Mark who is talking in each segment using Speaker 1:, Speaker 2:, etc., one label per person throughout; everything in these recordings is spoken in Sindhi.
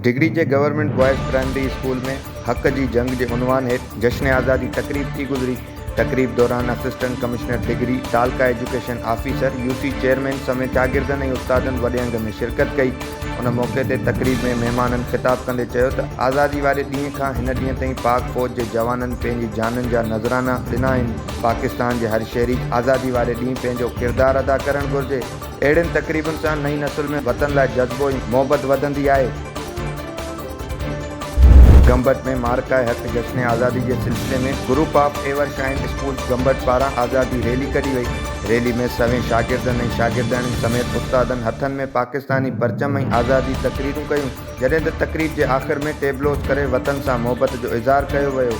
Speaker 1: ڊگھڙي جي گورنمينٽ بوائز پرائمري اسڪول ۾ حق جي جنگ جي عنوان هيٺ جشن آزادي تقريب ٿي گذري، تقريب دوران اسسٽنٽ ڪمشنر ڊگھڙي، تعلقه ايجوڪيشن آفيسر، يوسي چيئرمين سميت شاگردن ۽ استادن وڏي انگ ۾ شرڪت ڪئي. ان موقعي تي تقريب ۾ مهمانن خطاب ڪندي چيو ته آزادي واري ڏينهن کان هن ڏينهن تائين پاڪ فوج جي جوانن پنهنجي جانن جا نذرانا ڏنا آهن، پاڪستان جي هر شهري آزادي واري ڏينهن پنهنجو ڪردار ادا ڪرڻ گهرجي، اهڙين تقريبن سان نئين نسل ۾ وطن لاء جذبو ۽ محبت وڌندي آهي. گمبٽ ۾ معرڪه حق جشن آزادي جي سلسلي ۾ group of ever shine schools Gambat پاران آزادي ريلي ڪڍي وئي، ريلي ۾ سوين شاگردن ۽ شاگردياڻين سميت استادن هٿن ۾ پاڪستاني پرچم ۽ آزادي تقريرون ڪيون، جڏهن ته تقرير جي آخر ۾ ٽيبلوز ڪري وطن سان محبت جو اظهار ڪيو ويو.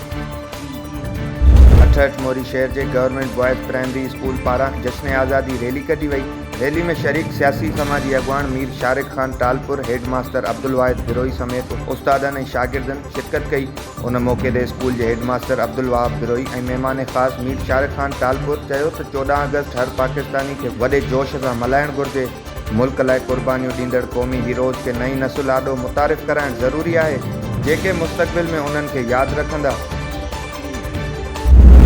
Speaker 1: اٺهٺ موري شهر جي گورنمينٽ بوائز پرائمري اسڪول پاران جشن آزادي ريلي ڪڍي وئي، ريلي ۾ شريڪ سياسي سماجي اڳواڻ مير شارق خان ٽالپر، هيڊ ماستر عبدالواحد بروهي سميت استادن ۽ شاگردن شرڪت ڪئي. ان موقعي تي اسڪول جي هيڊ ماستر عبدالوهاب بروهي ۽ مهمان خاص مير شارق خان ٽالپر چيو ته چوڏهن آگسٽ هر پاڪستاني کي وڏي جوش سان ملهائڻ گهرجي، ملڪ لاء قربانيون ڏيندڙ قومي هيروز کي نئين نسل آڏو متعارف ڪرائڻ ضروري آهي، جيڪي مستقبل ۾ انهن کي ياد رکندا.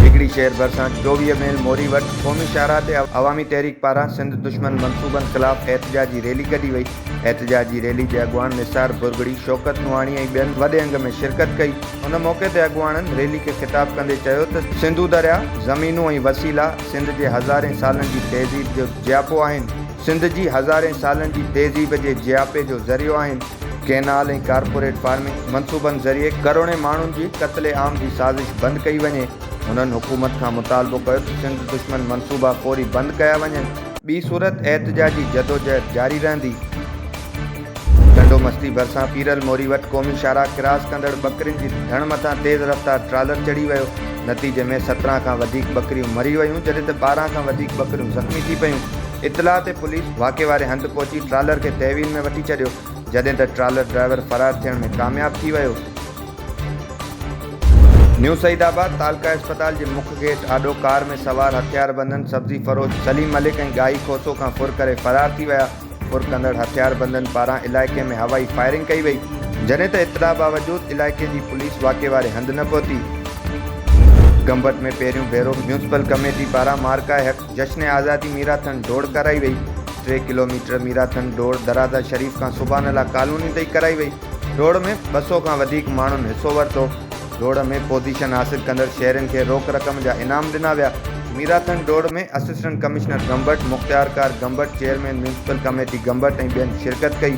Speaker 1: ڊگهڙي شهر ڀرسان چوويهه ميل موري وٽ قومي شاهراهه تي عوامي تحريڪ پاران سنڌ دشمن منصوبن خلاف احتجاجي ريلي ڪڍي وئي. احتجاجي ريلي جي اڳواڻ نثار ڀرڳڙي، شوڪت نوحاڻي ۽ ٻين وڏي انگ ۾ شرڪت ڪئي. ان موقعي تي اڳواڻن ريلي کي خطاب ڪندي چيو ته سنڌو درياهه، زمينون ۽ وسيلا سنڌ جي هزارين سالن جي تهذيب جو جياپو آهن. سنڌ جي هزارين سالن جي تهذيب جي جياپي جو ذريعو آهن. ڪئنال ۽ ڪارپوريٽ فارمنگ منصوبن ذريعي ڪروڙين ماڻهن جي قتل عام جي سازش بند ڪئي وڃي. هنن حڪومت کان مطالبو ڪيو ته سنڌ دشمن منصوبا فوري بند ڪيا وڃن. ٻي صورت احتجاجي جدوجهد جاري رهندي. ٽنڊو مستي ڀرسان پيرل موري وٽ قومي شاهراهه ڪراس ڪندڙ ٻڪرين جي ڌڻ مٿان تيز رفتار ٽرالر چڙهي ويو، نتيجي ۾ سترهن کان وڌيڪ ٻڪريون مري ويون جڏهن ته ٻارهن کان وڌيڪ ٻڪريون زخمي ٿي پيون، اطلاع تي پوليس واقعي واري هنڌ پهچي ٽرالر کي تحويل ۾ وٺي ڇڏيو جڏهن ته ٽرالر ڊرائيور فرار ٿيڻ ۾ ڪامياب ٿي ويو. نيو سعيد آباد تعلقه اسپتال جي مک گيٽ آڏو ڪار ۾ سوار هٿياربندن سبزي فروش سليم ملڪ ۽ ڳاهي کوسو کان ڦر ڪري فرار ٿي ويا، پر ڪندڙ هٿياربندن پاران علائقي ۾ هوائي فائرنگ ڪئي وئي، جڏهن ته اطلاع باوجود علائقي جي پوليس واقعي واري هنڌ نه پهتي. گمبٽ ۾ پهريون ڀيرو ميونسپل ڪميٽي پاران مارڪا حق جشن آزادي ميراٿن ڊوڙ ڪرائي وئي، ٽي ڪلوميٽر ميراٿن ڊوڙ درازا شريف کان سبحان الله ڪالوني تائين ڪرائي وئي. ڊوڙ ۾ ٻه سؤ کان وڌيڪ ماڻهن حصو ورتو. ڊوڙ ۾ پوزيشن حاصل ڪندڙ شهرين کي روڪ رقم جا انعام ڏنا ويا. ميراٿن ڊوڙ ۾ اسسٽنٽ ڪمشنر گمبٽ، مختيارڪار Gambat, chairman municipal committee Gambat ۽ ٻين شرڪت ڪئي.